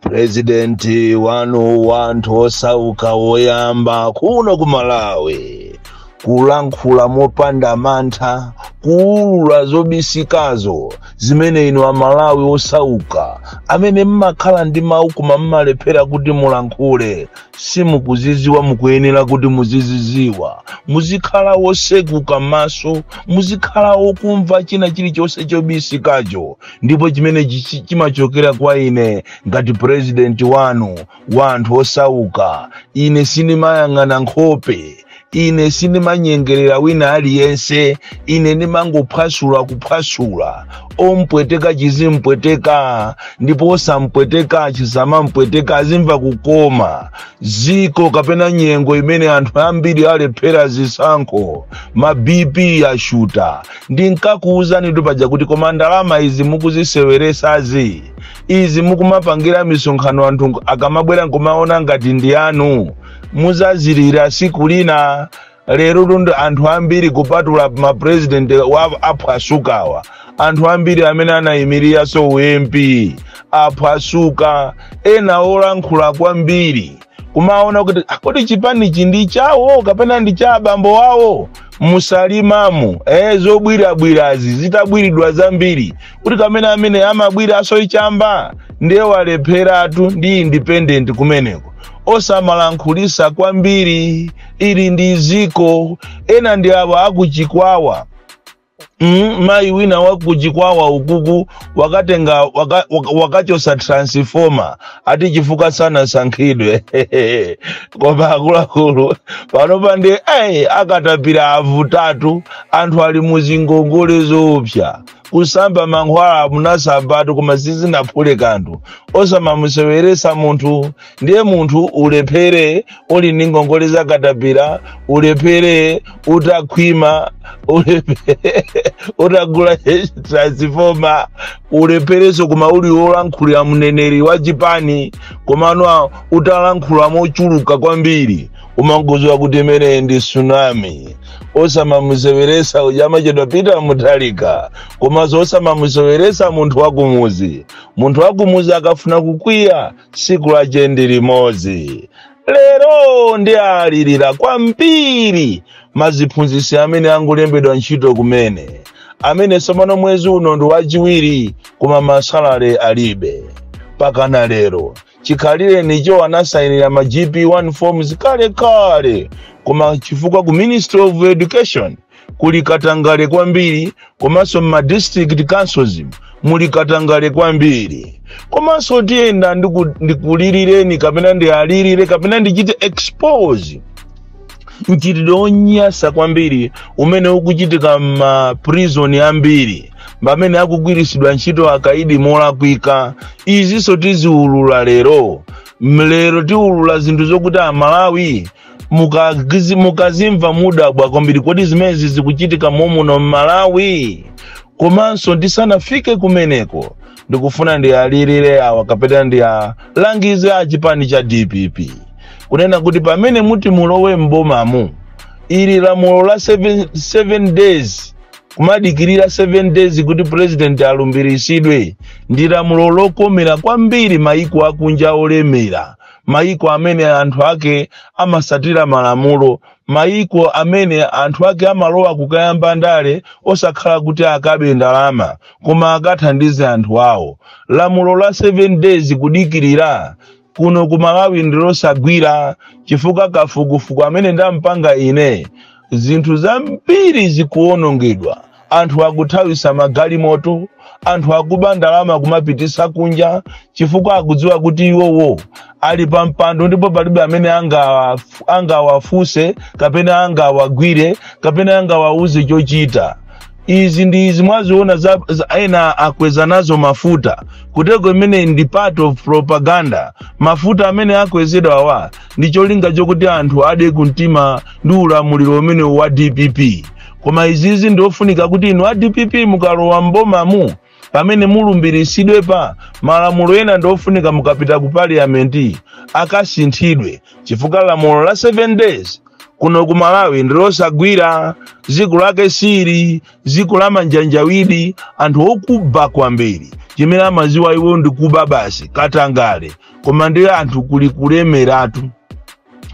purezidenti wanu wa anthu osauka woyamba kuno ku malawi kulankhula mopanda mantha kuulula zobisikazo zimene inu amalawi osauka amene mmakhala ndi mawu koma mmalephera kuti mulankhule simukuziziwa mukuyenera kuti muziziziwa muzikhala wosekuka maso muzikhala wokumva china chilichonse chobisikacho ndipo chimene chimachokera kwa ine ngati purezidenti wanu wa anthu osauka ine sindimayang'ana nkhope ine sindimanyengerera wina aliyense ine ndimangophwasula kuphwasula ompweteka chizimpweteka ndipo osampweteka chisamampweteka azimva kukoma ziko kapena nyengo imene anthu ambiri alephera zisankho ma bp ashuta ndinkakuwuzanitu paja kuti koma ndalama izi mukuziseweresazi izi mukumapangira misonkhano anthu akamabwera nkumaona ngati ndi anu muzazilira siku lina lero lundi anthu ambiri kupatula mapurezidentiwa aphwasukawa anthu ambiri amene anayimiraso ump aphwasuka ena olankhula kwambiri kumaona kuti "Ah, kodi chipanichi ndi chawo kapena ndi cha abambo wawo musalimamu eh, zobwirabwirazi zitabwiridwa zambiri kuti kamene amene amabwira asoichamba ndiye walepheratu ndi independent kumeneko osamalankhulisa kwambiri ili ndi ziko ena ndi abo akuchikwawa Mm, mayi wina wakuchikwawa ukuku wakatenga wakachosa transformer ati chifukwa sanasankhidwe koma akuluakulu panopa nde akatapira avutatu anthu ali muzingongole zoopsa kusamba mankhwala munasambatu koma sizinaphule kanthu osamamuseweresa munthu ndiye munthu ulephere uli ndi ngongole za katapira ulephere utakhwima ulephere utagula transifoma ulephereso koma uli wolankhulira mneneri wa chipani komano utalankhula mochuluka kwambiri umangoziwa kuti imeneyi ndi tsunami osamamuseweresa uja amachedwa pita muthalika komanso osamamuseweresa munthu wakumuzi munthu wakumuzi akafuna kukwiya tsiku lache ndi limodzi lero ndawalirira kwambiri maziphunzitsi amene angolembedwa ntchito kumene amene tsopano mwezi uno ndi wachiwiri koma masalale alibe pakana lero chikhalirenicho anasayinira ma gp1 forms kale kale koma chifukwa ku ministry of education kuli katangale kwambiri komanso mma district councils muli katangale kwambiri komanso tiyenda ndiku- ndikulilireni kapena ndialirire kapena ndichite expose mchitidwe wonyasa kwambiri umene ukuchitika mma prison ambiri pamene akugwiritsidwa ntchito akaidi molakwika izinso tiziulula lero lero tiulula zinthu zokuti amalawi mukagizi- mukazimva mudabwa kwambiri kodi zimenezi zikuchitika momuno m'malawi komanso ndisanafike kumeneko ndikufuna ndiyalilire awa kapena ndiyalangize a chipani cha dpp kunena kuti pamene muti mulowe m'bomamu ili lamulo la 7, 7 days kumadikirira 7 days kuti president alumbiritsidwe ndi lamulo lokomera kwambiri maiko akunja olemera mayiko amene anthu ake amasatira malamulo mayiko amene anthu ake amalowa kukayamba ndale osakhala kuti akabe ndalama koma akathandize anthu awo lamulo la 7 days kudikirira kuno ku malawi ndilosagwira chifukwa kafukufuku amene ndampanga ine zinthu zambiri zikuwonongedwa anthu akuthawisa magalimoto anthu akuba ndalama kumapitisa kunja chifukwa akudziwa kuti iwowo ali pa mpando ndipo palibe amene angawa- angawafuse kapena angawagwire kapena angawauze chochita izi ndi izi mwazionazi za, za ena akweza nazo mafuta kuteroko imene ndi part of propaganda mafuta amene akwezedwawa ndi cholinga chokuti anthu ade kumtima ndi ulamuliro umenewu wa dpp koma izizi ndiofunika kuti inu a dpp mukalowa m'bomamu pamene mulumbiritsidwe pa malamulo ena ndiofunika mukapita ku parliamenti akasinthidwe chifukwa lamulo la 7 days kuno ku malawi ndilosagwira dziko lake ndi ili dziko la manjanjawidi anthu okuba kwambiri chimene amaziwa iwo ndikuba basi katangale koma ndi anthu kuli kulemeratu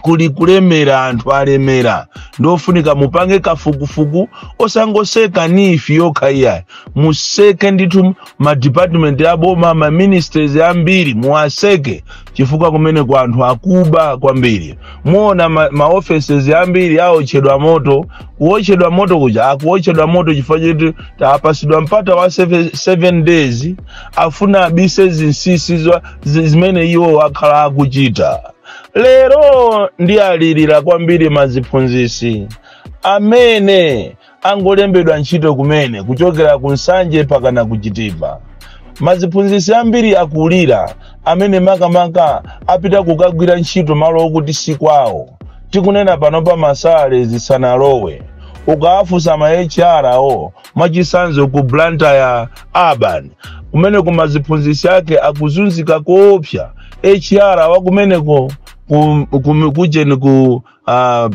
kuli kulemera anthu alemera ndofunika mupange kafukufuku osangoseka NEEF yokha iyayi museke ndithu madipatimenti aboma maministries ambiri muwaseke chifukwa kumeneko anthu akuba kwambiri muona ma, ma offices ambiri aotchedwa moto kuotchedwa moto kuja akuotchedwa moto chifukwa choti tapasidwa mpata wa 7 days afuna abise zinsinsi za- zi- zimene iwo akhala akuchita lero ndi alirira kwambiri maziphunzisi amene angolembedwa ntchito kumene kuchokera ku nsanje pakana kuchitipa maziphunzisi ambiri akulira amene makamaka apita kukagwira ntchito malo okuti si kwawo tikunena pano pa ma salary zisanalowe ukawafunsa ma hr awo mwachisanzo ku blantyre urban kumene ku maziphunzitsi ake akuzunzika koopsa hr wakumeneko ku- ku- kujeni ku uh,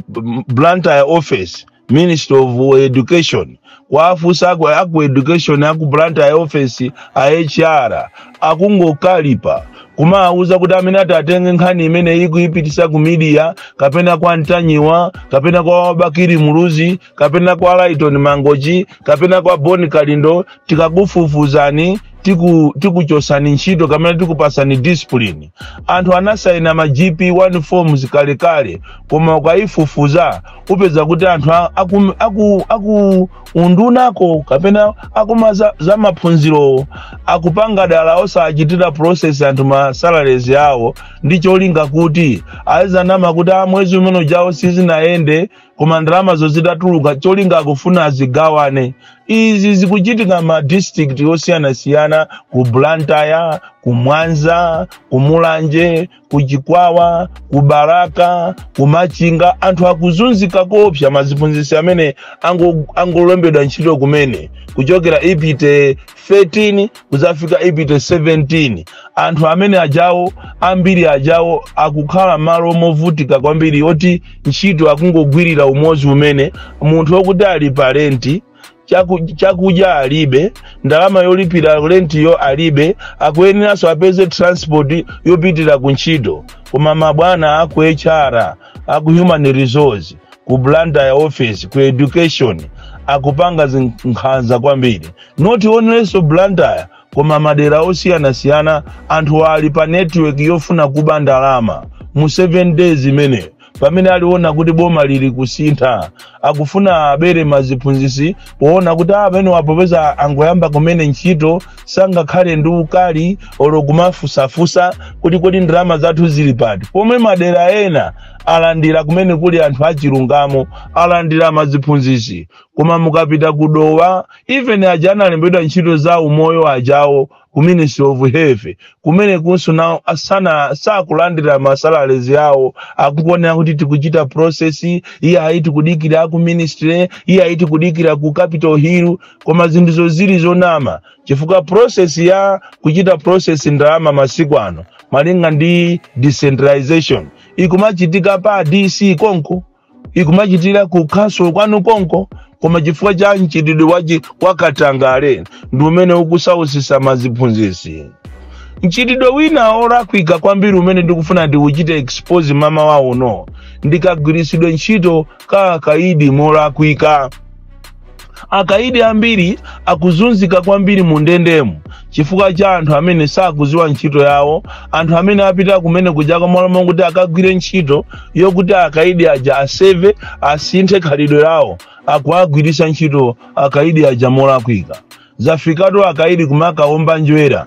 blantyre office ministry of education kuwafunsa aku, aku education aku blantyre office a hr akungokalipa kumawuza kuti amene ati atenge nkhani imene ikuyipitisa ku media kapena kwa ntanyiwa kapena kwa Bakili muluzi kapena kwa Lyton Mangochi kapena kwa Bon Kalindo tikakufufuzani tiku tikuchosani ntchito kapena tikupasani discipline anthu anasaina ma gp1 forms kalekale koma ukayifufuza upeza kuti anthu a- aku, aku, aku undunako kapena aku ma za, za maphunzirowo akupanga dala osachitira process anthu ma salaries awo ndi cholinga kuti azinama kuti a mwezi umene ujawo sizinayende koma ndalamazo zitatuluka cholinga akufuna azigawane izi zikuchitika ma district osiyanasiyana ku blantyre ku mwanza ku mulanje ku chikwawa ku balaka ku machinga anthu akuzunzika koopsa maziphunzitsi amene ango- angolembedwa ntchito kumene kuchokera IPTE 13 kudzafika IPTE 17 anthu amene ajawo ambiri ajawo akukhala malo movutika kwambiri oti ntchito akungogwirira umozi umene munthu okuti ali pa renti chaku- chakudya alibe ndalama yolipira rentiyo alibe akuyeneranso apeze transport yopitira ku ntchito koma mabwana aku hr aku human resource ku blantyre office ku education akupanga zinkhanza kwambiri not only so Blantyre koma madera osiyanasiyana anthu ali pa network yofuna kuba ndalama mu 7 days imene pamene aliona kuti boma lili kusintha akufuna abere maziphunzisi poona kuti amene awa popeza angoyamba kumene ntchito sangakhale ndi ukali olo kumafunsafunsa kuti kodi ndalama zathu zili pati pomwe madera ena alandira kumene kuli anthu achilungamo alandira maziphunzisi koma mukapita ku dowa even aja analembedwa ntchito za umoyo ajawo ku ministry of health kumene kunso nawo sakulandira masalarizi yawo akukuonerani kuti tikuchita process iye ayi tikudikira ku ministry iye ayi tikudikira ku capital hill koma zinthuzo zili zonama chifukwa process ya kuchita process ndalama masiku ano malinga ndi decentralization ikumachitika pa dc konko ikumachitira ku council kwanu konko koma chifukwa cha mchitidwe wachi wakatangale ndi umene ukusausisa maziphunzisi mchitidwe wina olakwika kwambiri umene ndikufuna ndiuchite expose mmawa uno ndikagwiritsidwe ntchito ka akaidi molakwika Akaidi ambiri akuzunzika kwambiri mu ndendemu chifukwa cha anthu amene sakuziwa ntchito yawo, anthu amene apita kumene kuja kwa malo okuti akagwire ntchito yokuti akaidi aja aseve, asinthe khalidwe lawo, akuwagwiritsa ntchito akaidi aja molakwika. zafikatu akaidi kumakaumba njwera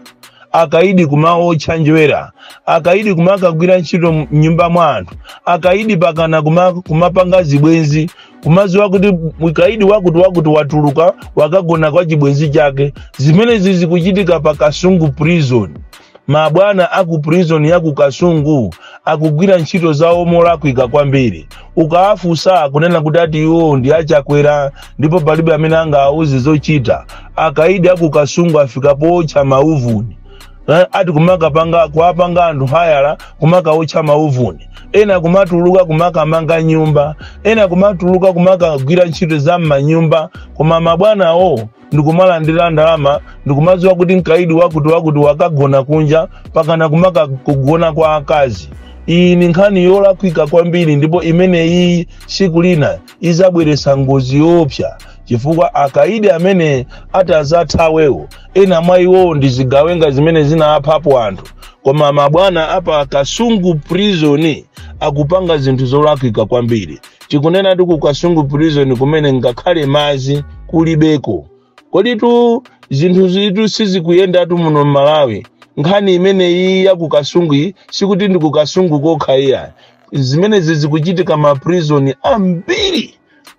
akaidi kumaotcha njwera akaidi kumakagwira ntchito mnyumba mwa anthu akaidi pakana kumapanga zibwenzi kumaziwa kuti mkaidi wakuti wakuti watuluka wakagona kwa chibwenzi chake zimenezi zikuchitika pa kasungu prison mabwana a ku prison ya ku kasungu akugwira ntchito zawo molakwika kwambiri ukawafunsa kunena kuti ati iwo ndi achakwera ndipo palibe amene angawauze zochita akaidi a ku kasungu afika pootcha mauvuni Eh, ati kumakapanga kuwapanga anthu hayala kumakaotcha mauvuni ena kumatuluka kumakamanga nyumba ena kumatuluka kumakagwira ntchito za m'manyumba koma mabwanawo ndikumalandira ndalama ndikumadziwa kuti mkaidi wakuti wakuti wakagona kunja pakana kumaka kugona kwa akazi iyi ni nkhani yolakwika kwambiri ndipo imene iyi tsiku lina izabweretsa ngozi yoopsa chifukwa akaidi amene atazathawewo ena mwa iwowo ndi zigawenga zimene zinaphapo anthu koma mabwana apa kasungu prison akupanga zinthu zolakwika kwambiri tikunenatu ku kasungu prison kumene ngakhale madzi kulibeko koditu zinthuzitu sizikuyendatu muno m'malawi nkhani imeneyi ya ku kasungu iyi sikuti ndi ku kasungu kokha iya zimenezi zikuchitika ma prison ambiri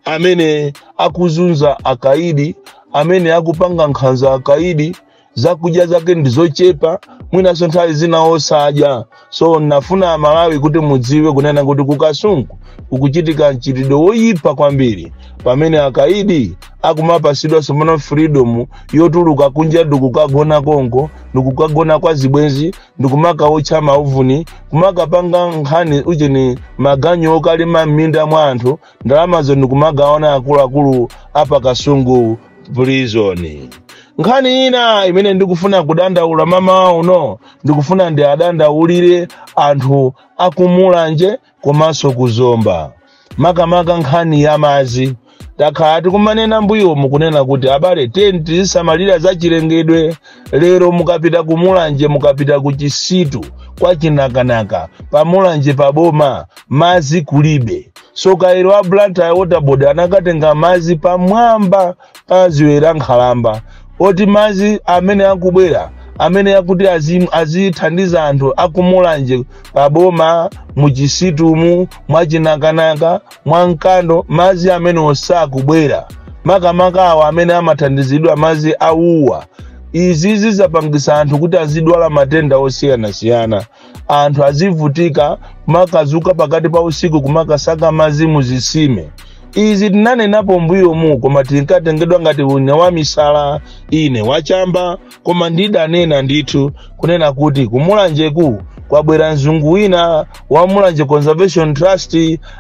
amene akuzunza akaidi amene akuwapanga nkhanza akaidi zakudya zake ndi zochepa mwinanso nthawi zina osadya so nafuna amalawi kuti mudziwe kunena kuti ku kasungu kukuchitika mchitidwe woyipa kwambiri pamene akaidi akumapasidwa somono freedom yotuluka kunja ndikukagona konko ndikukagona kwa zibwenzi ndikumakaotcha mauvuni kumakapanga nkhani ucheni maganyu okalima m'minda mwa anthu ndalamazo ndikumagawana akuluakulu apakasungu prison nkhani ina imene ndikufuna kudandaula mamawa uno ndikufuna ndiadandaulire anthu akumulanje komanso kuzomba makamaka nkhani ya madzi takhala tikumanena mbuyomu kunena kuti abale tiyeni tizisamalira za chilengedwe lero mukapita ku mulanje mukapita ku chisitu kwa chinakanaka pa mulanje pa boma mazi kulibe so kairo a blantyre water board anakatenga mazi pamwamba pa ziwe la nkhalamba oti mazi amene akubwera amene akuti azim- azithandiza anthu akumulanje pa boma muchisitumu mwachinakanaka mwa mkando madzi amenewo sakubwera makamaka awa amene amathandizidwa madzi a wua izi zizapangisa anthu kuti azidwala matenda osiyanasiyana anthu azivutika kumakazuka pakati pa usiku kumakasaka madzi muzisime izi tinanenapo mbuyomu koma tinkatengedwa ngati ine wa misala ine wachamba koma ndidanena ndithu kunena kuti kumulanjeku kwabwera mzungu wina wa mulanje conservation trust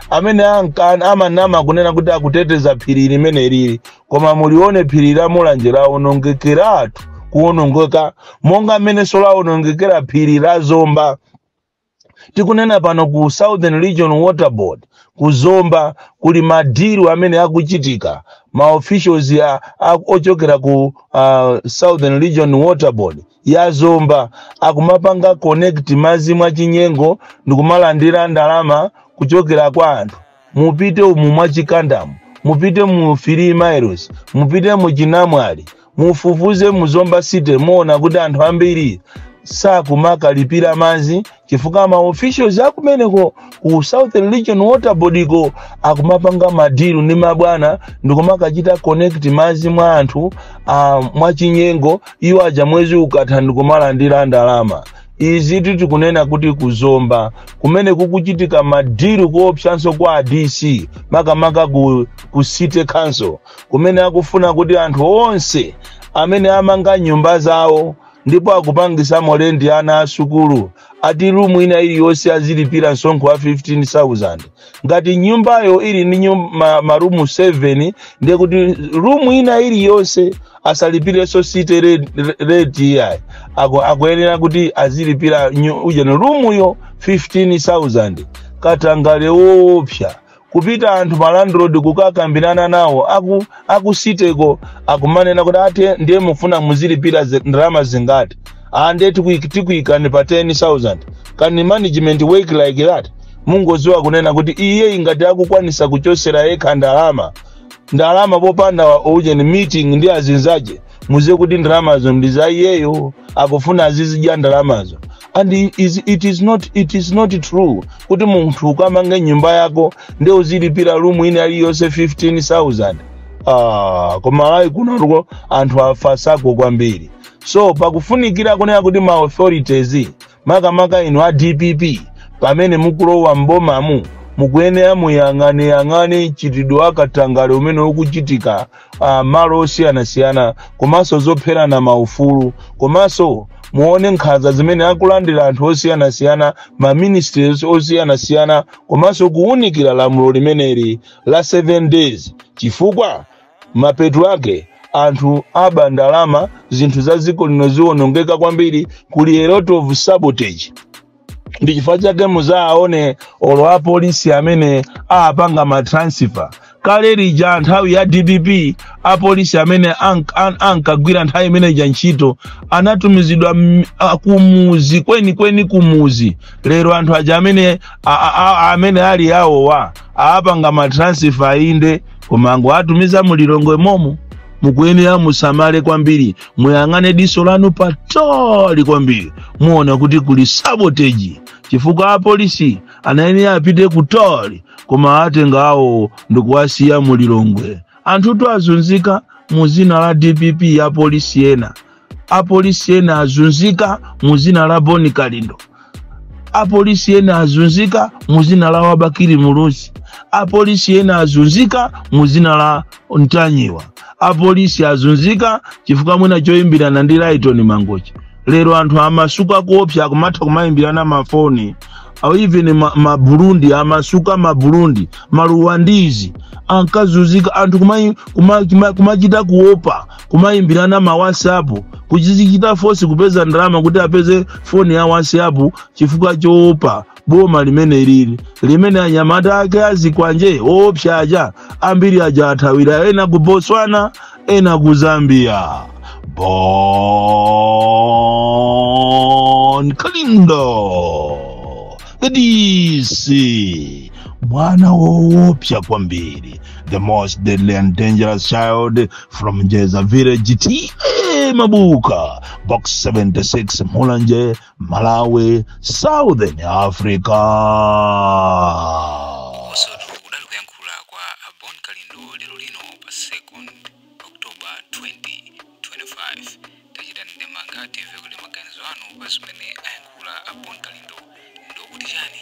amene anka- amanama kunena kuti akuteteza phiri limenelili koma mulione phiri la mulanje lawonongekeratu kuwonongeka monga mmenenso lawonongekera phiri la zomba tikunena pano ku southern region water board ku zomba kuli madiru amene akuchitika ma officials ya a- ochokera ku uh, southern region water board ya zomba akumapanga connect madzi mwachinyengo ndikumalandira ndalama kuchokera kwa anthu mupite umu mwa chikandamu mupite mu 3 miles mupite mu chinamwali mufufuze mu zomba city muona kuti anthu ambiri sakumakalipira madzi chifukwa ma officials akumeneko ku southern region water board ko akumapanga madilu ndi mabwana ndikumakachita connect madzi mwa anthu uh, mwachinyengo iwo aja mwezi ukatha ndikumalandira ndalama izi tikunena kuti kuzomba kumene kukuchitika madiru koopsanso kwa a dc makamaka ku, ku city council kumene akufuna kuti anthu onse amene amanga nyumba zawo ndipo akupangisamo lendi ana asukulu ati rumu ina iliyonse azilipira msonkho wa 15000 ngati nyumbayo ili ndi nyum- ma- marumu 7 ndekuti rumu ina iliyonse asalipireso city re- re- rate iyayi Aku- akuyenera kuti azilipira nyu- ujeni roomuyo 15000 katangale woopsa kupita anthu ma landlord kukakambirana nawo aku aku cityko akumanena kuti ati ndiye mufuna muzilipira zi- ndalama zingati ande tikuik- tikuikani pa 10000 can management work like that mungoziwa kunena kuti iyeyu ngati akukwanisa kuchosera yekha ndalama ndalama popanda ujeni meeting ndi azinzake muziwe kuti ndalamazo ndi za iyeyo akufuna azizidya ndalamazo and i- is, it, is not, it is not true kuti munthu ukamanga nyumba yako ndi uzilipira room ina iliyonse 15000 ah, ku Malawi kunotu anthu afasako kwambiri so pakufunikira kunena kuti ma authorities makamaka inu a dpp pamene mukulowa m'bomamu mukuyenera muyang'aneyang'ane mchitidwe wa katangale umene ukuchitika uh, malo osiyanasiyana komanso zopherana maufulu komanso muone nkhanza zimene akulandira anthu osiyanasiyana ma ministries osiyanasiyana komanso kuwunikira lamulo limeneli la 7 days chifukwa Mapeto ake, anthu aba ndalama, zinthu za dziko lino ziwonongeka kwambiri, kuli a lot of sabotage. Ndi chifukwa chake muzaone olo apolisi amene apanga ma transfer. Kale lija nthawi ya DPP apolisi amene ank- an- ankagwira nthawi imene ija ntchito anatumizidwa m- a- kumuzi kwenikweni kumuzi. Lero anthu aja amene a- a- a- amene ali awowa apanga ma transfer inde koma angowatumiza mu lilongwe momomo mukuyenera musamale kwambiri muyang'ane diso lanu patali kwambiri muona kuti kuli sabotage chifukwa apolisi anayenera apite kutali koma atenga awo ndikuwasiya mu lilongwe anthutu azunzika mu zina la dpp apolisi ena apolisi ena azunzika mu zina la bon kalindo apolisi ena azunzika mu zina la a bakili muluzi apolisi ena azunzika mu zina la ntanyiwa apolisi azunzika chifukwa mwina choyimbirana ndi laitoni mangochi lero anthu amasuka kuopa akumatha kumayimbirana mafoni au even ma- maburundi amasuka maburundi ma Rwandese ankazunzika anthu kumachita kuma, kuma kumachita kuopa kumayimbirana ma whatsapp kuzichita force kupeza ndalama kuti apeze foni ya whatsapp chifukwa choopa boma limeneli limene anyamata ake azikwanje oopsa aja ambiri aja athawira ena ku botswana ena ku zambia bon kalindo DC mwana woopsa kwambiri the most deadly and dangerous child from njeza village ta mabuka box 76 mulanje malawi southern africa komatu udali kuyankhula kwa a Bon Kalindo lero lino pa second October 2025 tachitani ndemanga timve kuti maganizo anu pa zimene ayankhula a Bon Kalindo ndi okuti chani.